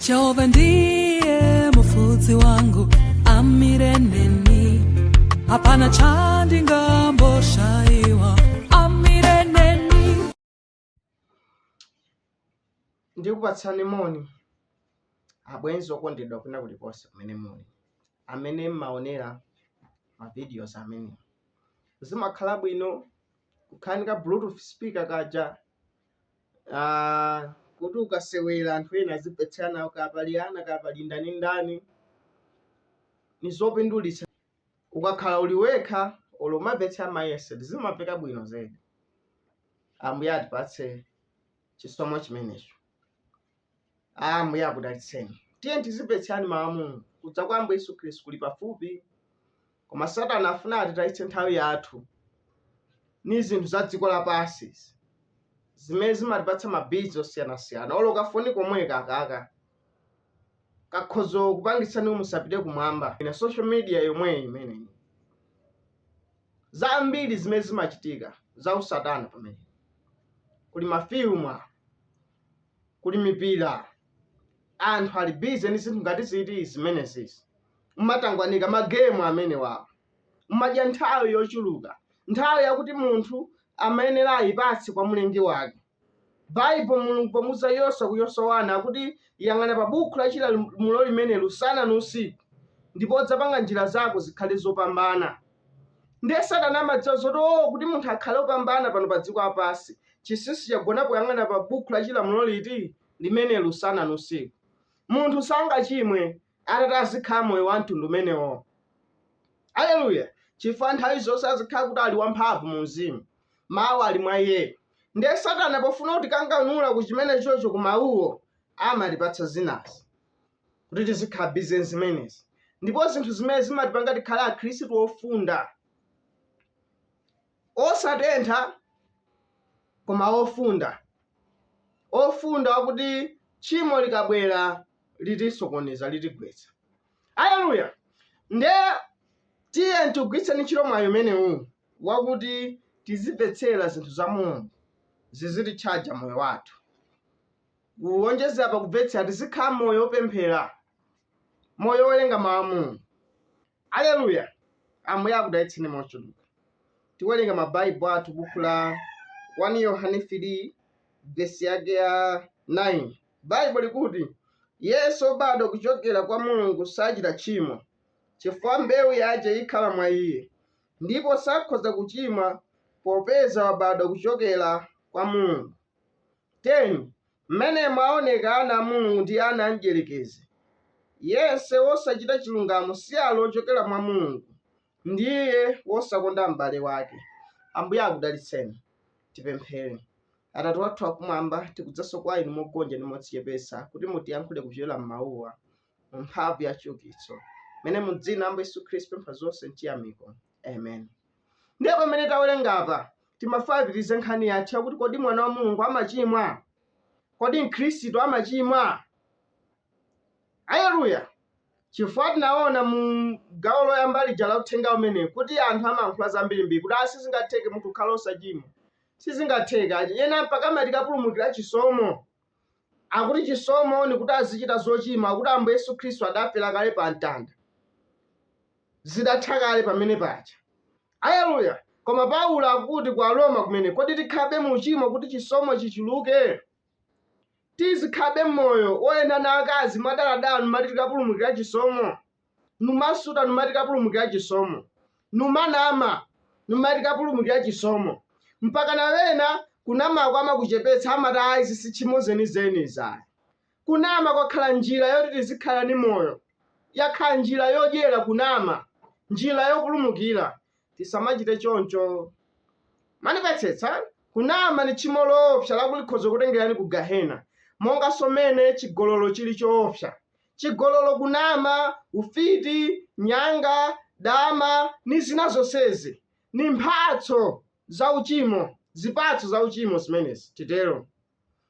Jehova ndiye mufudzi wangu amireneni hapana chandi ngamboshaiwa amireneni ndikupatsani moni abwenzi okondedwa kwina kulikonse kumene muli amene mumaonera mavideos amene zimakhala bwino kukhala ni ka bluetooth speaker kakaja Aaa kuti ukasewera anthu ena azimvetsera nawo kaya pali ana kaya pali ndani ndani nizopindulitsa ukakhala uli wekha olo umamvetsera ma headset zimamveka bwino zedi ambuye atipatse chisomo chimenecho Ambuye akudalitseni. Tiyeni tizimvetserani mawu a Mulungu. Kudza kwa Ambuye Yesu Khristu kuli pafupi, koma Satana afuna atitayitse nthawi yathu ni zinthu za dziko lapansi, zimene zimatipatsa mabizi osiyanasiyana. Olo kafoni komweka kakaka kakhoza kupangitsani kuti musapite kumwamba. Ina social media yomweyi imeneyi, zambiri zimene zimachitika za usatana pamene kuli mafilimu awo kuli mipira anthu ali bize ndi zinthu ngati ziti zimenezizi mumatangwanika magemu amenewawo umadya nthawi yochuluka nthawi yakuti munthu amayenera ayipatse kwa mlengi wake baibulo mulungu pomuuza yoswa ku yoswa wani akuti yang'ana pa bukhu la chilamulo limeneli usana ni usiku ndipo udzapanga njira zako zikhale zopambana ndiye satana amadziwa zoti oo kuti munthu akhale opambana pano pa dziko lapansi Chinsinsi chagona poyang'ana pa buku la chilamulo liti? Limeneli usana ndi usiku. Munthu sangachimwe atati azikhala moyo wa mtundu umenewo. Aleluya! Chifukwa nthawi zonse azikhala kuti ali wamphamvu mu mzimu. Mawu ali mwa iye. Ndiye Satana pofuna kutikanganula ku chimene chocho ku mawuwo, amatipatsa zinazi kuti tizikhala bize zimenezi. Ndipo zinthu zimene zimatipanga tikhale Akhristu ofunda. osatentha koma ofunda, ofunda wakuti tchimo likabwera litisokoneza, litigwetsa. Aleluya! Nde tiye tigwiritseni ntchito mwayi umenewu wakuti tizimvetsera zinthu za Mulungu zizititchaja moyo wathu. Kuwonjezera pa kumvetsera, tizikhala moyo wopemphera, moyo wowerenga mawu a Mulungu. Aleluya! Ambuye akudalitseni mochuluka. Tiwerenga Mabaibulo athu buku la 1 Yohane 3 vesi yake ya 9. Baibulo likuti, Yense wobadwa kucokera kwa Mulungu sacita tchimo, chifukwa mbeu yace ikhala mwa iye, ndipo sakhoza kucimwa popeza wabadwa kucokera kwa Mulungu. 10, M'menemo aoneka ana a Mulungu ndi ana a Mdyerekezi. Yense wosachita chilungamo si ali wochokera mwa Mulungu, ndi iye wosakonda m'bale wake. Ambuye akudalitseni. Tipemphere. Atate wathu wakumwamba, tikudzanso kwa Inu mogonja ndi modzichepetsa kuti mutiyankhule kupyola m'mawuwa, mu mphamvu ya chiukitso. Mmene mu dzina la Ambuye Yesu Khristu tipempha zonse m'chiyamiko. Amen. ndiye pamene tawerenga apa timafuna apitirize nkhani yathu yakuti kodi mwana wa mulungu amachimwa kodi mkhristu amachimwa aleluya chifukwa tinaona mu gawo loyamba lija la uthenga umene kuti anthu amayankhula zambirimbiri kuti a sizingatheke munthu kukhala osachimwa sizingatheke achi ena mpaka amati kapulumukira chisomo ati chisomo ni kuti azichita zochimwa akuti ambuye yesu khristu adafera kale pa mtanda zidatha kale pamene paja. Aleluya! Koma Paulo akuti kwa Aroma kumene, kodi tikhalabe mu uchimo kuti chisomo chichuluke? Tizikhalabe m'moyo woyenda na akazi mwadaladala numati tikapulumukila chisomo? Numasuta numati tikapulumukila chisomo? Numanama numati tikapulumukila chisomo? Mpaka na ena kunamako amakuchepetsa amati ayi izi si tchimo zenizeni izi ayi. Kunama kwakhala njila yoti tizikhala ni moyo. Yakhala njila yodyela kunama, njila yopulumukila. Tisamacite conco! Mwandimvetsetsa? Kunama ni tchimo loopsa lakuti likhoza kutengelani ku Gahena, monganso mmene cigololo cili coopsa. Cigololo, kunama, ufiti, nyanga, dama, ni zina zonsezi. Ni mphatso za ucimo, zipatso za ucimo zimenezi, titelo.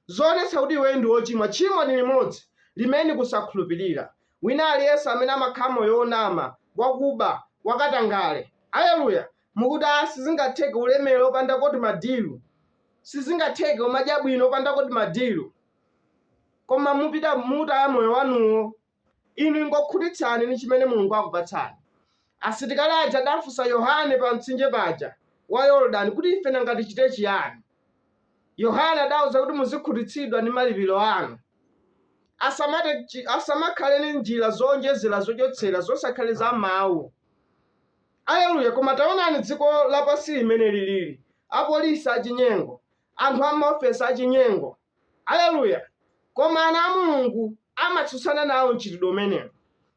zoonetsa kuti iwe ndi wochimwa. Tchimo ndi limodzi, limene ndi kusakhulupirira. Wina aliyense amene amakhala moyo wonama, wakuba, wakatangale. Aleluya! Mukuti, ah, sizingatheke ulemere opanda timadilu. Sizingatheke umadya bwino opanda timadilu. Koma mupita, mutaya moyo wanuwo. Inu ingokhutitsani ni cimene Mulungu akupatsani. Asilikali aja adafunsa Yohane pa mtsinje paja wa Yordani kuti ife nanga ticite ciani? Yohane adawauza kuti muzikhutitsidwa ni malipilo anu. Asamakhale ni njila zoonjezela zocotsela zosakhala za mau. Aleluya! Koma taonani dziko lapansi mmene lilili, apolisi acinyengo, anthu a m'maofesi acinyengo. Aleluya! Koma ana a Mulungu amatsutsana nawo mchitidwe umenewo,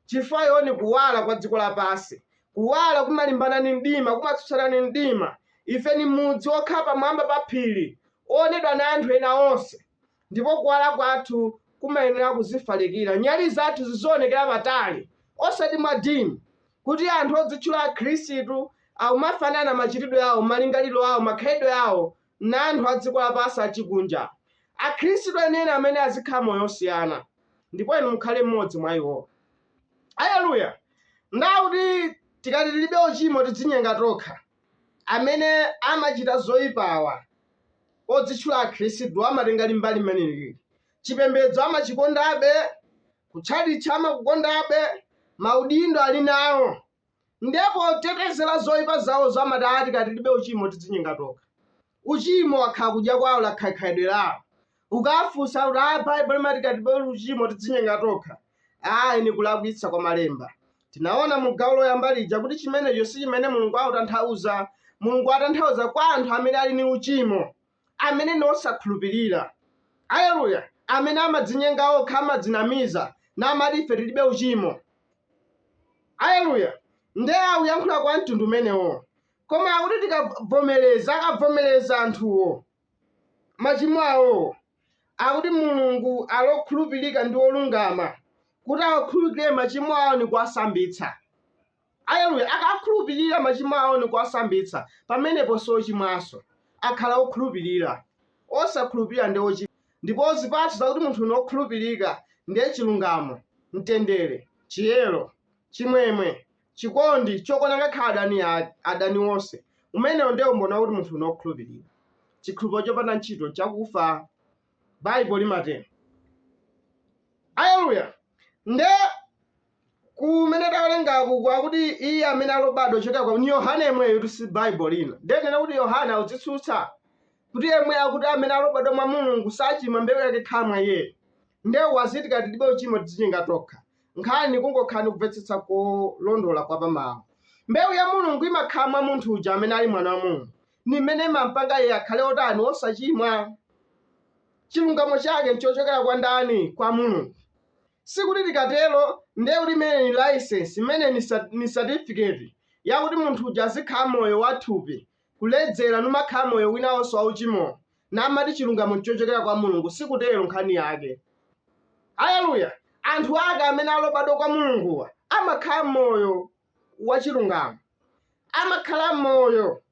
chifukwa iwo ni Kuwala kwa dziko lapansi. Kuwala kumalimbana ni mdima, kumatsutsana ni mdima. Ife ni mudzi wokhala pamwamba pa phili, woonedwa na anthu ena onse. Ndipo kuwala kwathu kumayenela kuzifalikila. Nyali zathu zizoonekela patali, osati mwa dim, kuti anthu odzitchula Akhristu, akumafanana macitidwe awo, malingalilo awo, makhalidwe awo, na anthu a dziko lapansi acikunja. Akhristu enieni amene azikhala moyo wosiyana, ndipo inu mukhale mmodzi mwa iwo. Aleluya! Nde akuti tikati tilibe ucimo tidzinyenga tokha. Amene amacita zoipa awa, odzichula Akhristu, amatenga mbali imeneyi. Cipembedzo amacikondabe, kuchalichi amakukondabe, maudindo ali nawo, Ndiye potetezera zoipa zawozo amati aah tikati tilibe uchimo tidzinyenga tokha. Uchimo wakhala kudya kwao lakhala khalidwe lao. Ukawafunsa akuti aah Bible limati tikati tilibe uchimo tidzinyenga tokha, ayi ni kulakwitsa kwa malemba. Tinaona mu gawo loyamba lija kuti chimenecho sichimene Mulungu autanthauza. Mulungu atanthauza kwa anthu amene ali ni uchimo. amene ndi osakhulupirira. Aleluya! Amene amadzinyenga okha, amadzinamiza, namati ife tilibe uchimo. Aleluya! Nde akuyankhula kwa mtundu umenewo. Koma akuti tikavomereza, akavomereza anthuwo machimo awowo, akuti Mulungu ali okhulupirika ndi olungama kuti awakhululukire machimo awo ndi kuwasambitsa. Aleluya! Akakhululukira machimo awo ndi kuwasambitsa, pamenepo si ochimwanso. Akhala okhulupirira. Osakhulupirira ndiye ochimwa. Ndipo zipatso zakuti munthu ni wokhulupirika ndiye chilungamo, mtendere, chiyero, chimwemwe, chikondi, chokonda ngakhale adani, adani onse. Umenewo ndiye umboni wakuti munthu ni wokhulupirira. Chikhulupiriro chopanda ntchito nchakufa, Baibo limatero. Aleluya! Ndiye kumene tawerengaku akuti iye amene ali obadwa ochokera kwa ni yohane yemweyotu si baibulo lina nde nnena kuti yohane akudzitsutsa kuti yemwe akuti amene ali obadwa mwa mulungu sachimwa mbewu yake ikhala mwa iyeyo nde uwu waziti tikati tilibe uchimo tidzinyenga tokha nkhani nkungokhala ni kumvetsetsa kolondola kwa pamawu mbewu ya mulungu imakhala mwa munthu uja amene ali mwana wa mulungu ni imene imampanga iye akhale otani osachimwa chilungamo chake nchochokera kwa ndani kwa mulungu Sikuti tikatero ndiye kuti imeneyi ni laisensi, imeneyi ni satifiketi yakuti munthu uja azikhala moyo wa thupi, kuledzela, n'kumakhala moyo wina wonse waucimowo, namati cilungamo n'cocokela kwa Mulungu. Sikutelo nkhani yake. Aleluya! Anthu ake amene ali obadwa kwa Mulunguwa amakhala moyo wacilungamo, amakhala moyo,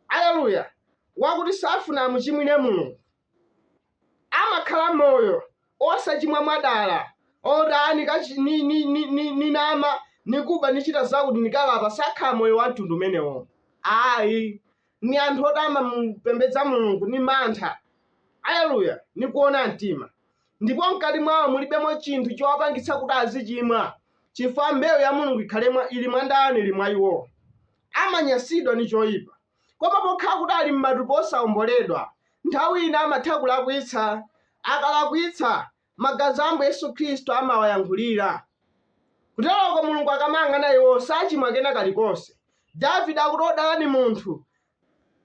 aleluya, wakuti safuna amucimwile Mulungu. amakhala moyo osachimwa mwadala oti aa nika ni, ni, ni, ni, ninama nikaba nichita zakuti nikalapa sakhala moyo wa mtundu umenewo ayi ni anthu oti amamupembedza mulungu ni mantha aleluya ni kuona mtima ndipo mkati mwawo mulibemo chinthu chowapangitsa kuti azichimwa chifukwa mbewu ya mulungu ikhale mwa- ili mwa ndani ili mwa iwowo amanyasidwa ni choyipa Koma pokhala kuti ali m'matupi osaomboledwa, nthawi ina amatha kulakwitsa. Akalakwitsa, magazi a Ambuye Yesu Khristu amawayankhulira. Kuteroko Mulungu akamang'ana iwo, sachimwa kena kalikonse. Davide akuti, Wodala ni munthu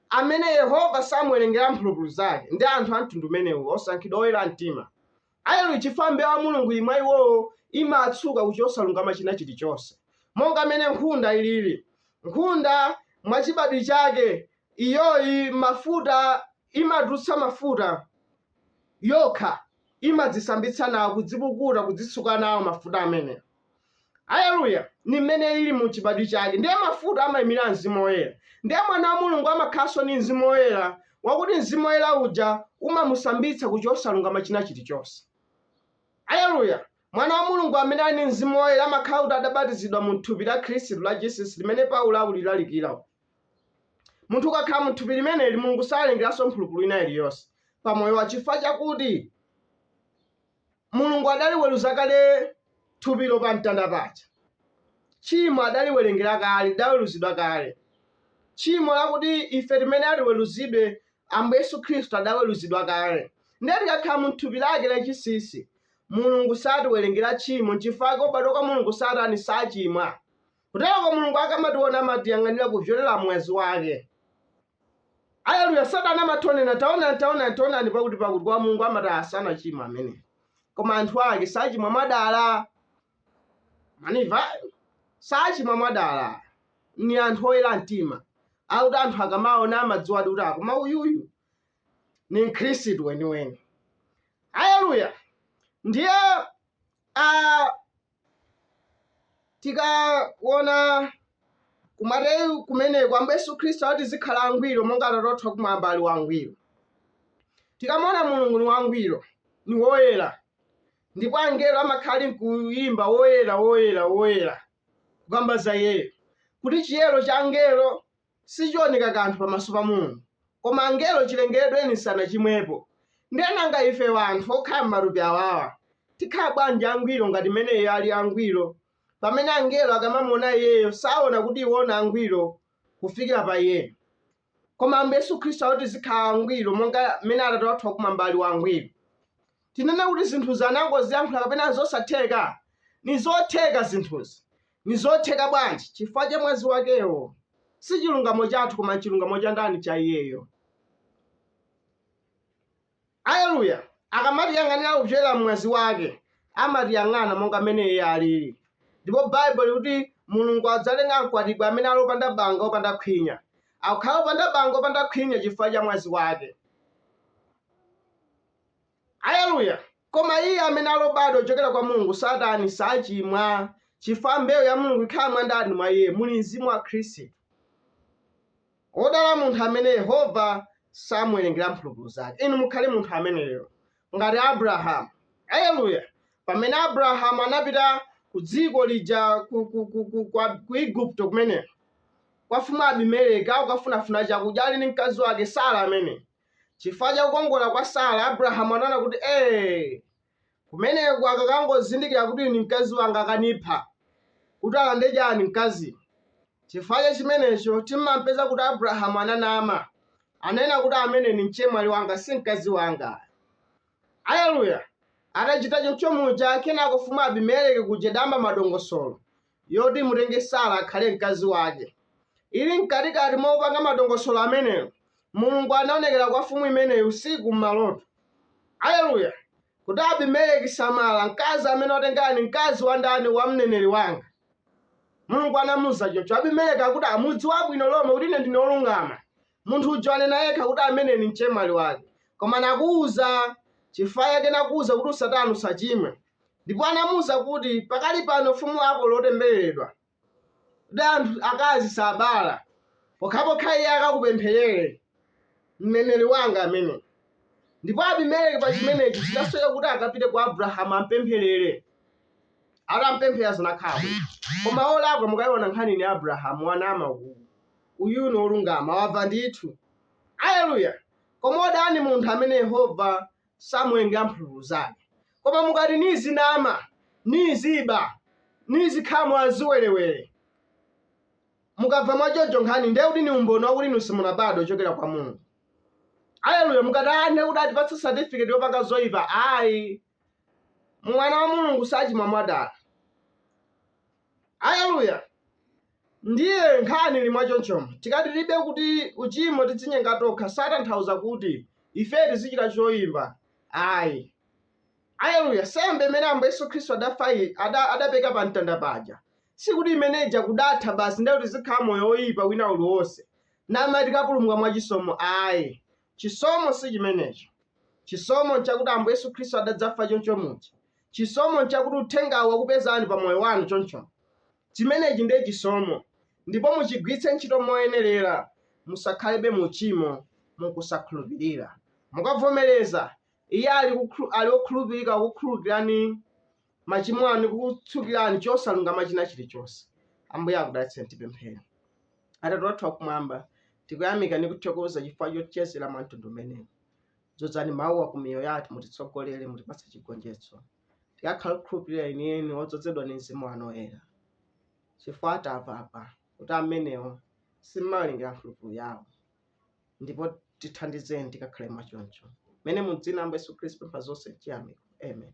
amene Yehova samuwerengera mphulupulu zake. Ndi anthu a mtundu umenewu, osankhidwa oyera mtima. Aleluya chifukwa mbewu ya Mulungu ili mwa iwowo imatsuka ku chosalungama china chilichonse. Monga mmene nkhunda ilili, nkhunda mwachibadwi chake iyoyi mafuta imatulutsa mafuta yokha, imadzisambitsa nawo, kudzipukuta, kudzitsuka nawo mafuta amenewo. aleluya ni mmene ili mu chibadwi chake ndiye mafuta amayimira mzimu woyera ndiye mwana wa mulungu amakhalanso ndi mzimu woyera wakuti mzimu woyera uja umamusambitsa ku chosalungama china chilichonse aleluya mwana wa mulungu amene ali ndi mzimu woyera amakhala kuti adabatizidwa mu thupi la khristu la jesus limene paulo akulilalikira munthu ukakhala mu thupi limeneli mulungu sawerengeranso mphulupulu ina iliyonse pamoyowo chifukwa chakuti mulungu adaliweruza kale thupilo pa mtanda paja tchimo adaliwerengera kale lidaweruzidwa kale tchimo lakuti ife timenayenera tiweruzidwe ambuye yesu khristu adaweruzidwa kale ndiye tikakhala mu thupi lake lachisisi mulungu satiwerengera tchimo nchifukwa chake obadwa kwa mulungu satani sachimwa kuteroko mulungu akamationa amatiyang'anira kupyolera mmwazi wake Aleluya! Satana amatonena, taonani, taonani, taonani, pakuti pakuti kwa Mulungu amati sanachimwe amenewa, koma anthu ake sachimwa mwadala. Mwandimva sachimwa mwadala ni anthu oyera mtima akuti anthu akamaona amadziwadi kuti koma uyuyu ni mkhristu weniweni. Aleluya! Ndiye uh, tikaona kumateyu kumeneko ambuye yesu khristu ati tizikhala angwiro monga atate wathu wakumwamba ali wangwiro tikamaona mulungu ni wangwiro ni woyera ndipo angelo amakhala ali nkuyimba woyera woyera woyera kukamba za iyeyo kuti chiyero cha angelo sichioneka kanthu pamaso pa Mulungu, koma angelo chilengeredweni sanachimwepo. Ndiye nanga ife wanthu okhala m'matupi awawa, tikhala bwanji angwiro ngati m'mene Iye ali angwiro, pamene angelo akamamuona Iyeyo saona kuti iwo ni angwiro kufikira pa Iyeyo? Koma Ambuye Yesu Khristu akuti tizikhala angwiro monga m'mene Atate wathu wakumwamba ali wangwiro. Tinene kuti zinthuzi anangoziyankhula kapena n'zosatheka? Ni zotheka zinthuzi. Nizotheka bwanji? Chifukwa cha mwazi wakewo. Si chilungamo chathu koma n'chilungamo cha ndani? Cha iyeyo. Aleluya! Akamatiyang'anira kupyolera m'mwazi wake, amatiyang'ana monga mmene iye alili. Ndipo Baibo likuti Mulungu adzalenga mkwatibwi amene ali opanda banga, opanda khwinya. Akukhala opanda banga, opanda khwinya chifukwa cha mwazi wake. Aleluya! Koma iye amene ali obadwa kuchokera kwa Mulungu satani, sachimwa, chifukwa mbewu ya Mulungu ikhala mwa ndani? Mwa iye. Muli Mzimu wa Khristu. Wodala munthu amene Yehova samuwerengera mphulupulu zake. Inu mukhale munthu ameneyo, ngati Abrahamu. Aleluya! Pamene Abrahamu anapita ku dziko lija ku, ku, ku, ku, kwa- ku Igupto kumeneko kwa mfumu Abimeleki akukafunafuna chakudya ali ndi mkazi wake Sara amene Chifukwa cha kukongola kwa Sara, Abrahamu anaona kuti ee, kumeneku akakangozindikira kuti uyu ni mkazi wanga akanipha, kuti alande chani mkaziyu. Chifukwa cha chimenecho timampeza kuti Abrahamu ananama, ananena kuti ameneyu ni mchemwali wanga si mkazi wanga. Aleluya! Atachita choncho muja, kenako mfumu Abimeleki kuja idayamba madongosolo, yoti imutenge Sara akhale mkazi wake. Ili mkatikati mopanga madongosolo ameneyo, Mulungu anaonekera kwa mfumu imeneyo usiku m'maloto. Aleluya! Kuti Abimeleki, samala, mkazi amene watenga ni mkazi wa ndani wa mneneri wanga. Mulungu anamuuza choncho. Abimeleki akuti mukudziwa bwino lomwe kuti ine ndine wolungama. Munthu uja ananena yekha kuti amene ni mchemwali wake. Koma nakuuza chifukwa chake nakuuza kuti usatani usachimwe. Ndipo anamuuza kuti pakali pano ufumu wako watembereredwa. Kuti anthu akazi sabala. Pokhapokha iye akakupempherere. Mneneri wanga amene. Ndipo Abimeleki pa chimenechi chidasoweka kuti akapite kwa Abrahamu ampempherere. Atampempherera zinakhala bwino. Koma olakwa mukaiona nkhani ni Abrahamu wanama uku. Uyu ni olungama, wamva ndithu. Aleluya! Koma odala munthu amene Yehova samuwerengera mphulupulu zake. Koma mukati nizinama, niziba, nizikhala mwa ziwerewere, mukamva mwa choncho nkhani ndiye kuti ni umboni wakuti inu simunabadwe ochokera kwa Mulungu. Aleluya! Mukati "Ah, ndiye kuti atipatsa certificate yopanga zoipa. Ayi, mwana wa Mulungu sachimwa mwadala. Aleluya! Ndiye nkhani ili mwachonchomo. Tikati tilibe kuti uchimo tidzinyenga tokha sakutanthauza kuti ifeyo tizichita choipa ayi. Aleluya! Nsembe imene Ambuye Yesu Khristu adafa i- ada- adapereka pa mtanda paja sikuti imene ija kudatha basi ndiye kuti tizikhala moyo woipa wina uliwonse namati tikapulumuka mwa chisomo ayi. Chisomo si chimenecho. Chisomo nchakuti Ambuye Yesu Khristu adadzafa choncho muja Chisomo nchakuti uthengawu wakupezani pa moyo wanu choncho chimenechi ndiye chisomo ndipo muchigwiritse ntchito moyenerera musakhalebe mu uchimo mu kusakhulupirira. Mukavomereza, Iye ali okhulupirika kukukhululukirani machimo anu ndi kukutsukirani chosalungama china chilichonse. Ambuye akudalitseni tipemphere. Atate wathu wakumwamba, tikuyamika ndi kuthokoza chifukwa chotichezera mwa mtundu umenewu. Dzozani mawuwa ku miyoyo yathu, mutitsogolere, mutipatse chigonjetso. Tikakhale okhulupirira enieni, odzozedwa ndi mzimu wanu woyera. Chifukwa tamva apa kuti amenewo simuwalingira mphulupulu yawo. Ndipo tithandizeni tikakhale mwachoncho. Mmene mu dzina la Yesu Khristu pempha zonse m'chiyamiko. Amen.